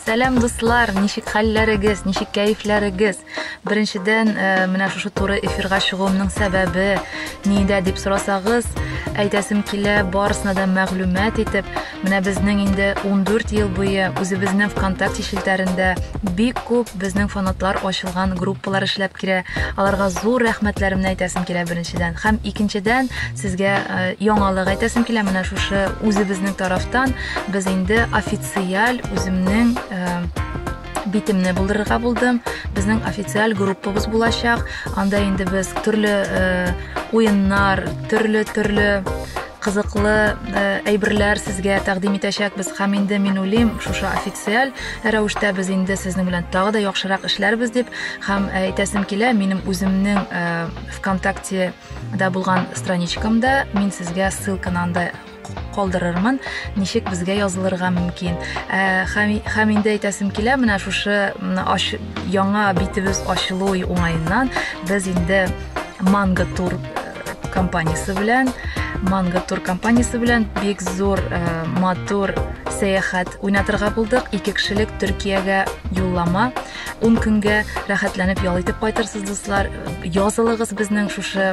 Сәлам дуслар, ничек хәлләрегез, ничек кәефләрегез? Беренчедән, э, менә шушы туры эфирга чыгуымның сәбәбе нидә дип сорасагыз, әйтәсем килә, барысына да мәгълүмат итеп, менә безнең инде 14 ел буе үзебезнең ВКонтакте челтәрендә бик күп безнең фанатлар ачылган группалар эшләп килә. Аларга зур рәхмәтләремне әйтәсем килә беренчедән. Һәм икенчедән, сезгә э, яңалык әйтәсем килә менә шушы үзебезнең тарафтан без инде официаль үземнең битемне булдырырга булдым безнең официаль группабыз булачак анда инде без төрле уеннар төрле төрле кызыклы э, әйберләр сезгә тәкъдим итәчәкбез һәм инде мин уйлыйм шушы официаль рәвештә без инде сезнең белән тагы да яхшырак эшләрбез дип һәм э, әйтәсем килә минем үземнең э, вконтакте да булган страничкамда мин сезгә ссылканы анда калдырырмын, ничек безгә язылырга мөмкин. Ә, һәм, һәм инде әйтәсем килә, менә шушы аш, яңа битебез ачылу уңаеннан без инде Манго Тур э, компаниясе белән Манго Тур компаниясе белән бик зур э, матур сәяхәт уйнатырга булдык. Ике кешелек Төркиягә юллама. 10 көнгә рәхәтләнеп ял итеп кайтырсыз, дуслар. Язылыгыз безнең шушы